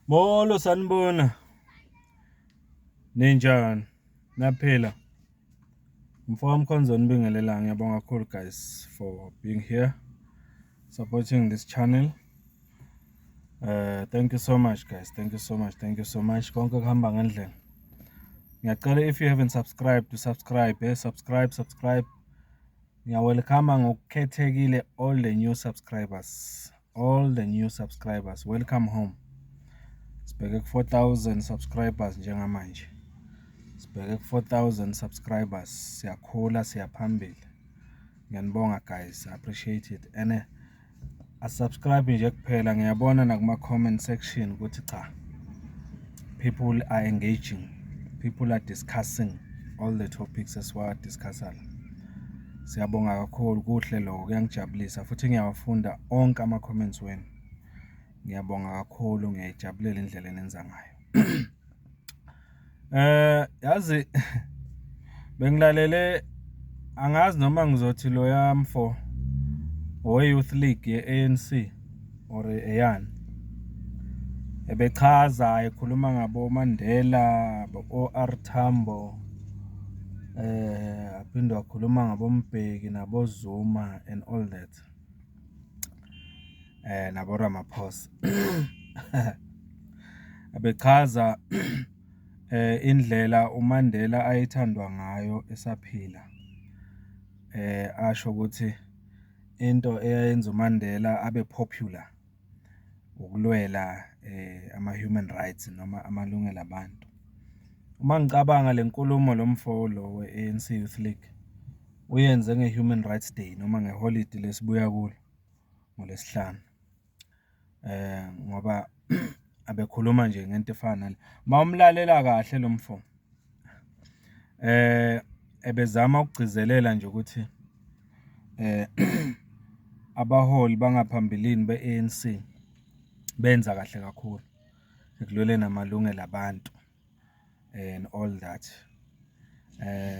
Molo sanibona. Ninjani? Naphila. Mfowethu Mkhonzweni ngibingelela ngiyabonga kakhulu guys for being here supporting this channel. Uh thank you so much guys. Thank you so much. Thank you so much. Konke kuhamba ngendlela. Ngiyacela if you haven't subscribed to subscribe, eh subscribe, subscribe. Ngiyawelcome ngokukhethekile all the new subscribers. all the new subscribers welcome home sibheke ku 4000 subscribers njengamanje sibheke ku 4000 subscribers siyakhula siyaphambili ngiyanibonga guys appreciate it ene asubscribe nje kuphela ngiyabona nakuma comment section ukuthi cha people are engaging people are discussing all the topics esiwa discussala Siyabonga kakhulu kuhle lokho kuyangijabulisa futhi ngiyawafunda onke ama-comments wenu. Ngiyabonga kakhulu ngiyayijabulela indlela enenza ngayo. Eh yazi bengilalele angazi noma ngizothi loya mfo we-Youth League ye-ANC. or eyani ebechaza ekhuluma ngabo Mandela bo-OR Tambo eh aphinde wakhuluma ngabombheki nabozuma and all that eh nabo Ramaphosa abechaza eh indlela uMandela ayithandwa ngayo esaphila eh asho ukuthi Into eyayenza uMandela abe popular ukulwela eh, ama human rights noma amalungelo abantu. Uma ngicabanga le nkulumo lo mfo lo we-ANC Youth League uyenze nge-Human Rights Day noma ngeholidi lesibuya kulo ngoLwesihlanu. ngoba abekhuluma nje ngento efana nale. Uma umlalela kahle lo mfo ebezama ukugcizelela nje ukuthi abaholi bangaphambilini be-ANC benza kahle kakhulu ekulweleni amalungelo abantu. and all that.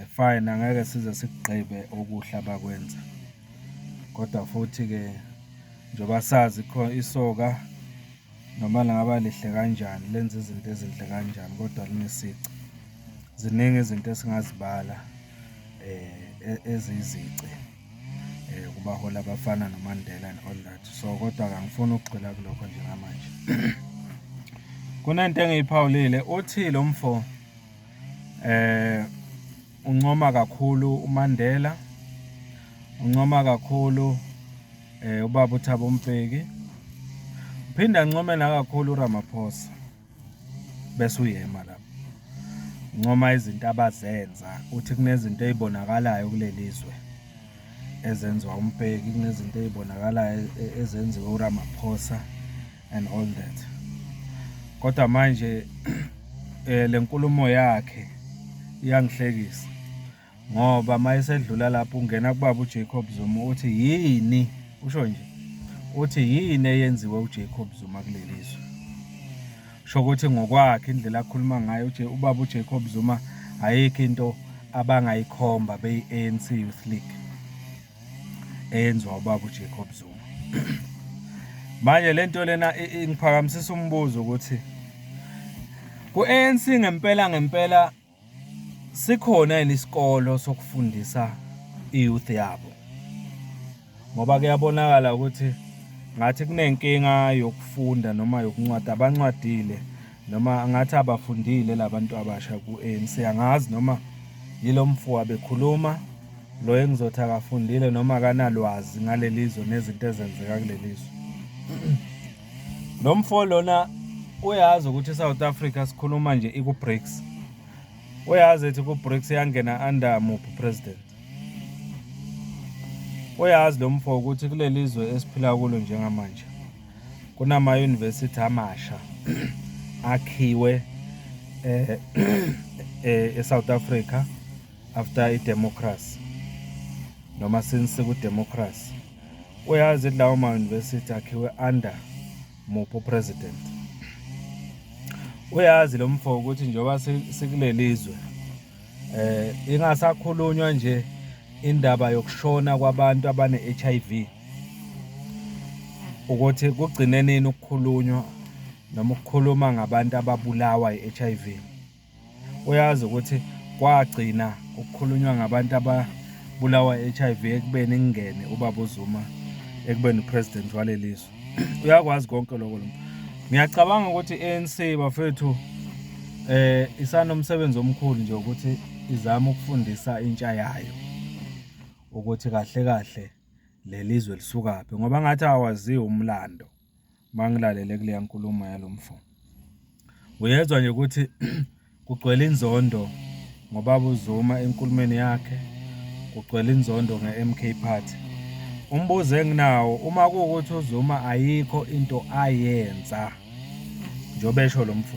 Fine angeke size sikugqibe okuhle abakwenza, kodwa futhi-ke njengoba sazi isoka noma lingaba lihle kanjani lenza izinto ezinhle kanjani kodwa linesici. Ziningi izinto esingazibala eziyizici. eh kubaholi abafana noMandela and all that so kodwa kangifuni ukugxila kulokho njengamanje kunento engiyiphawulile uthi lo mfo eh uncoma kakhulu uMandela uncoma kakhulu eh ubaba uThabo Mbeki uphinda ncome nakakhulu uRamaphosa bese uyema lapho ncoma izinto abazenza uthi kunezinto ezibonakalayo kulelizwe ezenziwa umbheki kunezinto ezibonakalayo e, e, ezenziwa uRamaphosa and all that kodwa manje eh, lenkulumo yakhe iyangihlekisa ngoba uma esedlula lapho ungena kubaba uJacob Zuma uthi yini usho nje uthi yini eyenziwe uJacob Zuma kuleli zwe sho ukuthi ngokwakhe indlela akhuluma ngayo nje ubaba uJacob Zuma ayikho into abangayikhomba beyi-ANC Youth League eyenziwa ubaba uJacob Zuma manje lento lena ingiphakamisisa umbuzo ukuthi ku-ANC ngempela ngempela sikhona yini isikolo sokufundisa i-youth yabo ngoba kuyabonakala ukuthi ngathi kunenkinga yokufunda noma yokuncwadi abancwadile noma ngathi abafundile labantu abasha ku-ANC angazi noma yilo mfo abekhuluma lo engizothi akafundile noma akanalwazi ngalelizwe nezinto ezenzeka kulelizwe Lo mfo lona uyazi ukuthi iSouth Africa sikhuluma nje iku-BRICS. Uyazi ethi ku-BRICS yangena under muphi president. Uyazi lo mfo ukuthi kuleli zwe esiphila kulo njengamanje kunama-university amasha akhiwe eh, eh eSouth Africa after idemocracy noma since kudemocracy Uyazi lawo ma-university akhiwe under muphi upresident? Uyazi lo mfo ukuthi njengoba sikuleli zwe eh ingasakhulunywa nje indaba yokushona kwabantu abane-HIV ukuthi kugcine nini ukukhulunywa noma ukukhuluma ngabantu ababulawa i-HIV Uyazi ukuthi kwagcina ukukhulunywa ngabantu ababulawa HIV ekubeni kungene ubaba uZuma ekubeni upresident waleli zwe. Uyakwazi konke lokho lo. Ngiyacabanga ukuthi ANC bafethu eh isanomsebenzi omkhulu nje ukuthi izama ukufundisa intsha yayo ukuthi kahle kahle lelizwe lisukaphi ngoba ngathi awaziwa umlando. mangilalele kuleya nkulumo yalo mfo. Uyezwa nje ukuthi kugcwele inzondo ngobaba uZuma enkulumeni yakhe, kugcwele inzondo nge-MK Party. Umbuzo enginawo uma kuwukuthi uZuma ayikho into ayenza njengoba esho lo mfo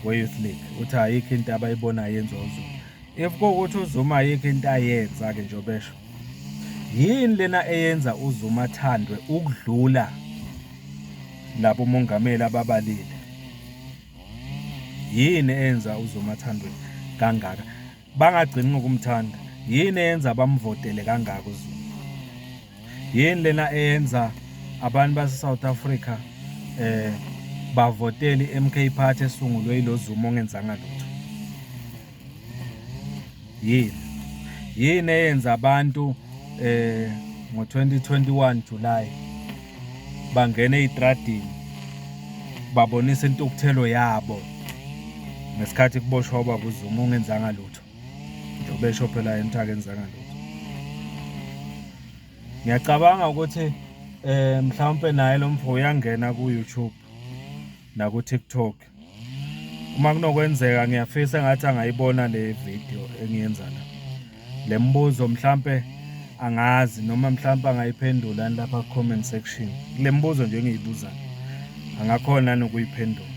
we-Youth League uthi ayikho into abayibonayo yenziwa uZuma. If kuwukuthi uZuma ayikho into ayenza-ke njengoba esho. Yini lena eyenza uZuma athandwe ukudlula labo mongameli ababalile? Yini eyenza uZuma athandwe kangaka? Bangagcini ngokumthanda. Yini eyenza bamvotele kangaka uZuma? Yini lena eyenza abantu base South Africa eh bavotele iMK Party esungulwe iloZuma ongenzanga lutho? yini yini eyenza abantu eh ngo-2021 July bangena ey'tradini babonisa intukuthelo yabo ngesikhathi kuboshwa ubaba uZuma ungenzanga lutho njengoba esho phela yena ukuthi akenzanga lutho ngiyacabanga ukuthi eh mhlawumpe naye lo mfo uyangena ku-YouTube naku-TikTok uma kunokwenzeka ngiyafisa ngathi angayibona le video engiyenza la le mbuzo mhlampe angazi noma mhlampe angayiphendula lapha comment section le mbuzo nje engiyibuza angakhona nokuyiphendula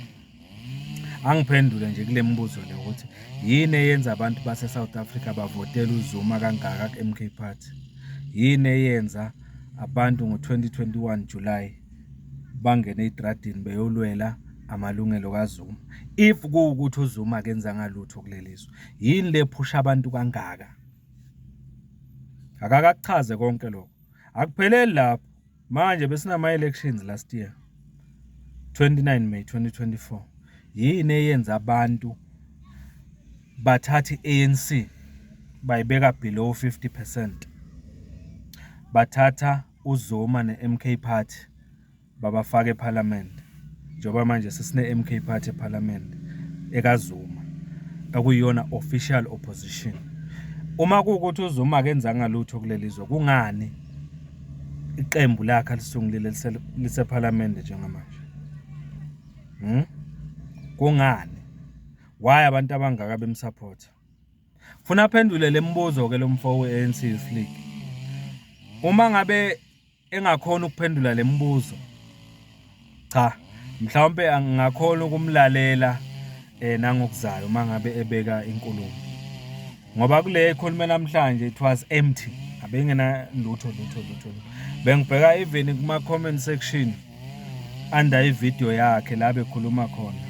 angiphendule nje kule mbuzo le ukuthi yini eyenza abantu base South Africa bavotela uZuma kangaka ku MK Party yini eyenza abantu ngo 2021 July bangene ey'tradini beyolwela amalungelo kaZuma if kuwukuthi uZuma akenzanga lutho kuleli zwe yini le phusha abantu kangaka akakakuchaze konke lokho akupheleli lapho manje besinama-elections last year 29 may 2024 yini eyenza abantu bathathe i-anc bayibeka below 50 percent bathatha uZuma ne-MK Party babafaka ePhalamende njengoba manje sesine-MK Party ePhalamende ekaZuma okuyiyona official opposition. Uma kuwukuthi uZuma akenzanga lutho kuleli zwe kungani iqembu lakhe alisungulile lisePhalamende njengamanje? Hmm? Kungani? Why abantu abangaka bemsupport? Funa aphendule lemibuzo ke lomfo weANC Youth League. Uma ngabe engakhona ukuphendula lemibuzo cha mhlawumbe angingakhona ukumlalela eh nangokuzayo uma ngabe ebeka inkulumo ngoba kule ekhulume namhlanje it was empty abengena lutho lutho lutho bengibheka even kuma comment section under ivideo yakhe la bekhuluma khona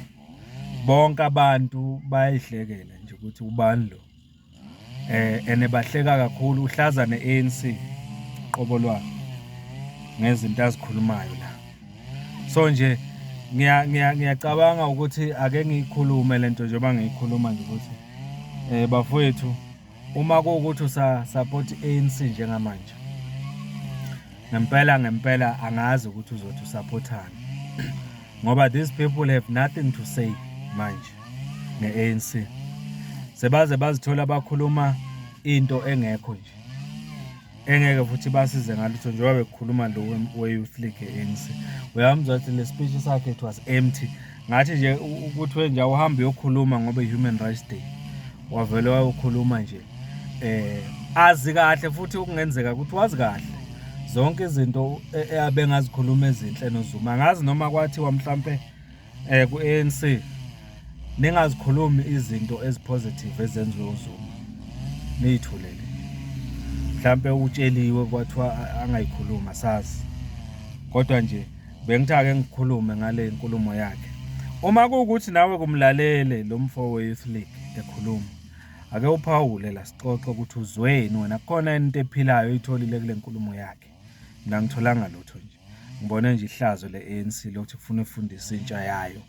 Bonke abantu bayayihlekela nje ukuthi ubani lo. Eh ene bahleka kakhulu uhlaza ne-ANC qobo lwakhe ngezinto azikhulumayo la. So nje ngiya ngiya ngiyacabanga ukuthi ake ngiyikhulume lento njengoba ngiyikhuluma nje ukuthi eh bafowethu Uma kuwukuthi usa support ANC njengamanje ngempela ngempela angazi ukuthi uzothi usupportani ngoba these people have nothing to say manje nge-ANC sebaze bazithola bakhuluma into engekho nje engeke futhi basize ngalutho njengoba bekukhuluma lo we-youth league e-anc uyamzwa ukuthi le speech sakhe it was empty ngathi nje ukuthiwe nje awuhambe uyokhuluma ngoba i-human rights day wavele wayokhuluma nje eh azi kahle futhi okungenzeka ukuthi wazi kahle zonke izinto e, e, abengazikhuluma ezinhle nozuma ngazi noma kwathiwa mhlampe eh ku ANC ningazikhulumi izinto ezipositive ezenziwe uZuma niyithulele mhlambe utsheliwe kwathiwa angayikhuluma sazi kodwa nje bengithi ake ngikhulume ngale nkulumo yakhe uma kuwukuthi nawe kumlalele lo mfo we-youth league ekhuluma ake uphawule la sixoxe ukuthi uzweni wena kukhona into ephilayo oyitholile kule nkulumo yakhe mina ngitholanga lutho nje ngibone nje ihlazo le-ANC lokuthi kufuna ifundise intsha yayo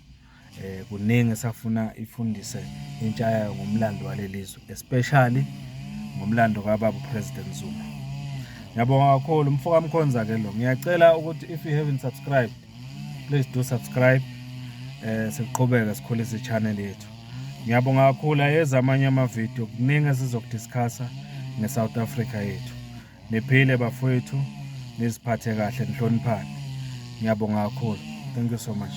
eh kuningi esafuna ifundise intsha yayo ngomlando walelizwe especially ngomlando kababa president Zuma ngiyabonga kakhulu mfoka mkhonza ke lo ngiyacela ukuthi if you haven't subscribed please do subscribe eh siqhubeke sikhulise channel yethu ngiyabonga kakhulu ayeza amanye ama video kuningi esizokudiscussa nge South Africa yethu Niphile bafowethu, niziphathe kahle, nihloniphane. Ngiyabonga kakhulu. Thank you so much.